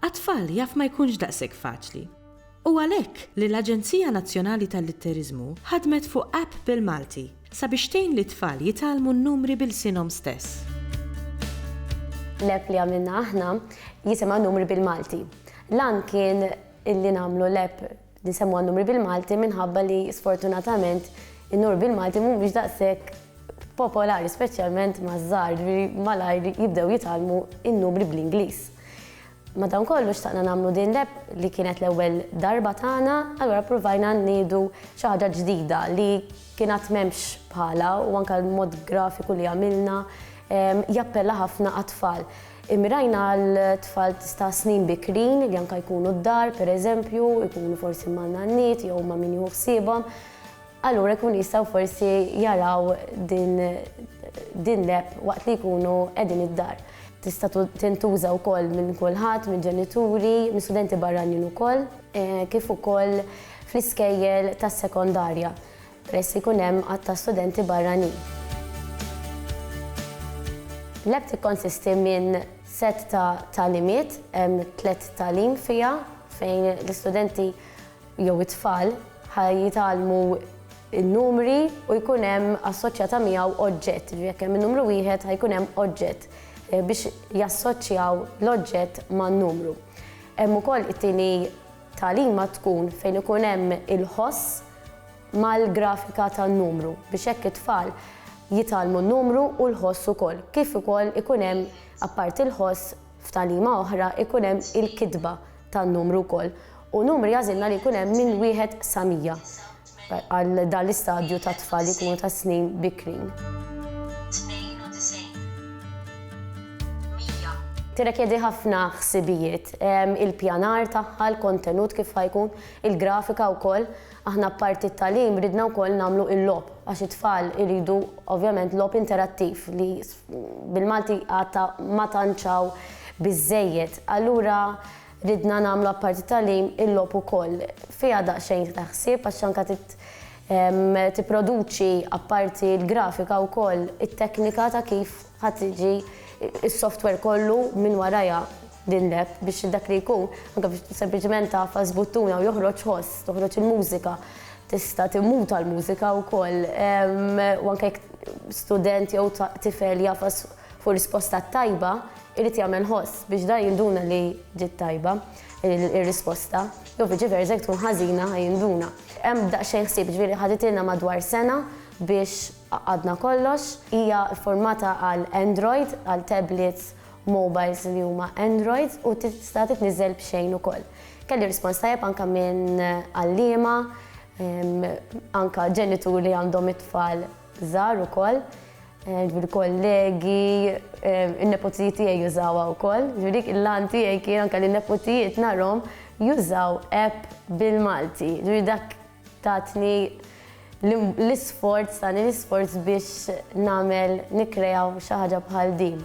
Għat-tfal jaf ma jkunx daqshekk faċli. Hu għalhekk li l-Aġenzija Nazzjonali tal-Litteriżmu ħadmet fuq app bil-Malti sabiex tgħin lit-tfal jitgħallmu n-numri b'ilsienhom stess. L-app li għamilna aħna jisimha Numri bil-Malti. L-għan kien li nagħmlu l-app Nsemmuha n-numri bil-Malti minħabba li sfortunatament in-numri bil-Malti mhumiex daqshekk popolari speċjalment maż-żgħar, ġifieri malajr jibdew jitgħallmu n-numri bl-Ingliż. Madankollu xtaqna nagħmlu din l-app li kienet l-ewwel darba tagħna, allura ppruvajna ngħidu xi ħaġa ġdida li kien għad m'hemmx bħalha u anke l-mod grafiku li għamilna jappella ħafna għat-tfal. Immirajna għal tfal ta' snin bikrin li anke jkunu d-dar, pereżempju, jkunu forsi ma' nanniet jew ma' min jieħu ħsiebhom. Allura jkun jistgħu forsi jaraw din din l-app waqt li jkunu qegħdin id-dar. Tista' tintuża wkoll minn kulħadd, mill-ġenituri, minn studenti barranin ukoll, kif ukoll fl-iskejjel tas-sekondarja, peress li jkun hemm għadd ta' studenti barranin. L-app tikkonsisti minn sett ta' tagħlimiet, hemm tliet tagħlim fiha fejn l-istudenti jew it-tfal ħa jitgħallmu n-numri u jkun hemm assoċjata miegħu oġġett, jiġifieri jekk hemm in-numru wieħed ħa jkun hemm oġġett biex jassoċjaw l-oġġett man-numru. Hemm ukoll it-tieni Tagħlima tkun fejn ikun hemm il-ħoss mal-grafika tan-numru biex hekk it-tfal jitgħallmu n-numru u l-ħoss ukoll. Kif ukoll ikun hemm apparti l-ħoss f'tagħlima oħra ikun hemm il-kitba tan-numru wkoll u numri għażilna li jkun hemm minn wieħed sa mija. għal dan l-istadju tat-tfal li jkunu ta' snin bikrin. Tirrekjedi ħafna ħsibijiet, il-pjanar tagħha, l-kontenut kif ħa jkun, il-grafika wkoll. Aħna apparti t-tagħlim ridna wkoll nagħmlu il-logħob għax it-tfal iridu ovvjament logħob interattiv li bil-Malti għad ta' ma tantx hawn biżżejjed. Allura Ridna nagħmlu apparti t-tagħlim il-logħob ukoll. Fiha daqsxejn tieħda ħsieb għax anke trid tipproduċi apparti l-grafika wkoll it-teknika ta' kif ħa tiġi s-software kollu minn warajha din l-app biex dak li jkun anke biex sempliċement tagħfas buttuna u joħroġ ħoss, toħroġ il-mużika. Tista' timmuta l-mużika wkoll u anke jekk student jew tifel jagħfas Fuq risposta tajba, irid jagħmel ħoss biex dan jinduna li ġiet tajba ir-risposta, jew viċi versa jekk tkun ħażina ħa jinduna. Hemm daqsxejn ħsieb, jiġifieri ħaditilna madwar sena biex għaqqadna kollox. Hija ffurmata għal Android, għal tablets, mobiles li huma Android u tista' titniżżel b'xejn ukoll. Kelli rispons tajjeb anke minn għalliema, anke ġenituri għandhom it-tfal żgħar ukoll, ġifieri kollegi, in-neputijiet tiegħi jużawha wkoll. Ġifieri l-għan tiegħi kien anke li n-neputijiet narhom jużaw app bil-Malti. Ġifieri dak tatni l-isforz, tani l-isforz biex nagħmel nikkrea xi ħaġa bħal din.